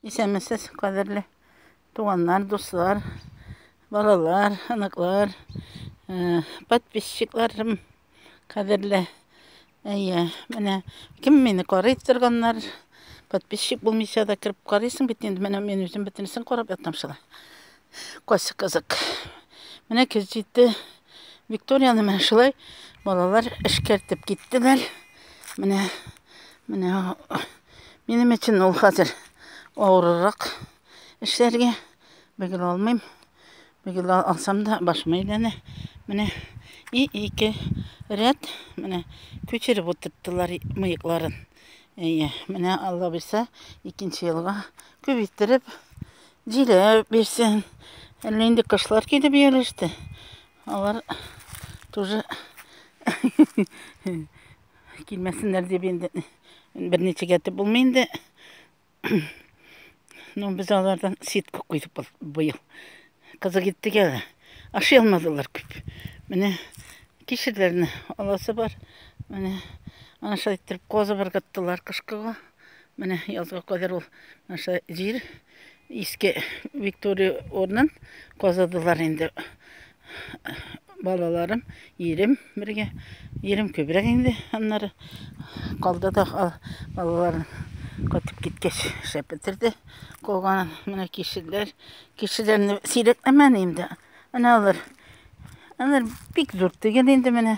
Исәнмесез, кадерле туганнар, дуслар, балалар, оныклар, э, подписчикларым, кадерле. Әйе, менә кем мине карый торганнар, подписчик булмыйча да кереп карыйсың бит инде. Менә мин үзем бөтенесен карап ятам шулай. Кайсы кызык. Менә көз җитте. Викторияны менә шулай балалар эшкәртеп киттеләр. Менә менә минем өчен ул хәзер авыррак эшләргә. Бөгел алмыйм. Бөгел алсам да башым әйләнә. Менә и ике ряд менә күчереп утырттылар мыекларын. Әйе, менә Алла буйса, икенче елга күп иттереп Җилә бирсен. Әллә инде кышлар килеп ияләште. Алар тоже килмәсеннәр дип инде берничә гәтеп булмый инде. Ну, без алардан ситка куйдык быел. Кызык иттек әле. Ашый алмадылар күп. Менә кишерләрне аласы бар. Менә ана шулай иттереп козы бергәттеләр кышкыга. Менә язга кадәр ул наша җир иске Виктория орнын казыдылар инде. Балаларым, ирем бергә. Ирем күбрәк инде аннары калды да балалар кайтып киткәч шәп бетерде. Калган менә кешеләр, кешеләрне сирәкләмән инде. Менә алар. Алар бик зур түгел инде менә.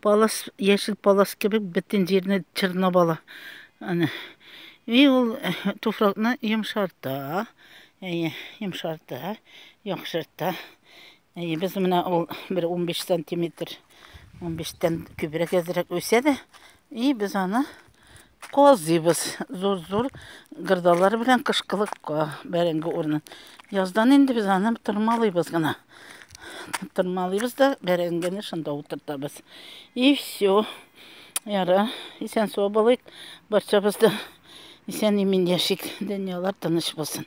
Палас, яшел палас кебек бөтен җирне чорнап ала. Аны. И ул э, туфракны йомшарта. Әйе, йомшарта, яхшырта. Әйе, без менә ул бер 15 сантиметр, 15 тән күбрәк әзрәк үсә дә, и без аны Казыйбыз зур-зур гырдалар белән кышкылыкка бәрәңге урынын. Яздан инде без аны тырмалыйбыз гына. Тырмалыйбыз да бәрәңгене шунда утыртабыз. И все. Яра, исән сау булыйк. Барчабыз да исән имин яшик. Дөньялар тыныч булсын.